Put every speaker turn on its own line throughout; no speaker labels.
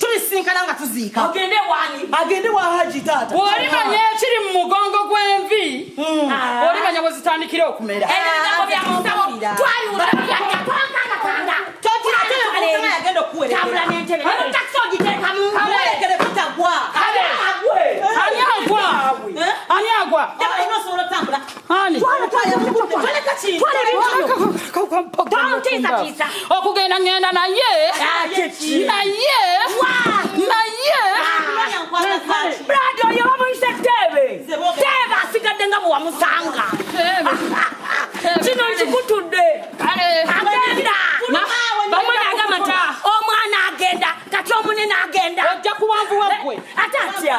tubisinkana nga tuziika agende wani agende wa haji taata bw'olimanya ekiri mu
mugongo gw'envi hmm. ah. olimanya bwe zitandikira okumera eh,
ani
agwa ani agwa okugenda ngenda naye naye naye
brado oyo bamuyise teebe teebe asigadde nga bwewamusanga kino nkikutudde agenda bamwe nagamba nti omwana agenda kati omunene agenda ojja kuwanvuwa gwe
ate atya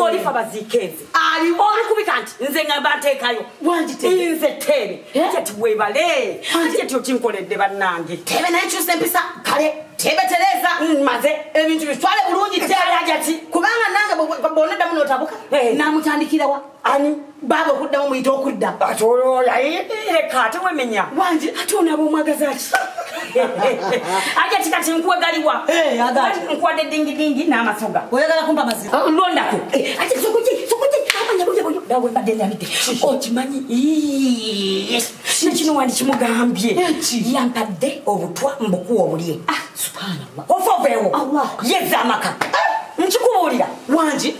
olifa bazikenze olikubika
nti nze
ngamba nteekayo nze
teebe
jeti webale jeti okinkoledde bannange teebe naye kyusa empisa
kale teebe tereeza mm, maze ebintu
bitwale bulungi
teebe jati kubanga nange bwonaddamu notabuka namutandikirawa ani baaba okuddamu muyita okudda ati olwola
leka ate wemenya wangi ate onaaba
omwagazaki
aja ti kati nkuwe galiwa eh, nkuwadde dingidingi n'amasoga oyagala kumpa mazima ah,
londako eh,
ate sokuki sokuki abanyabuyabuyo dawe mbadde nyalidde okimanyi nekino wandi kimugambye yampadde obutwa mbukuwa obulye ah, subhanallah
ofa oveewo
yeza amaka ah! nkikubuulira wangi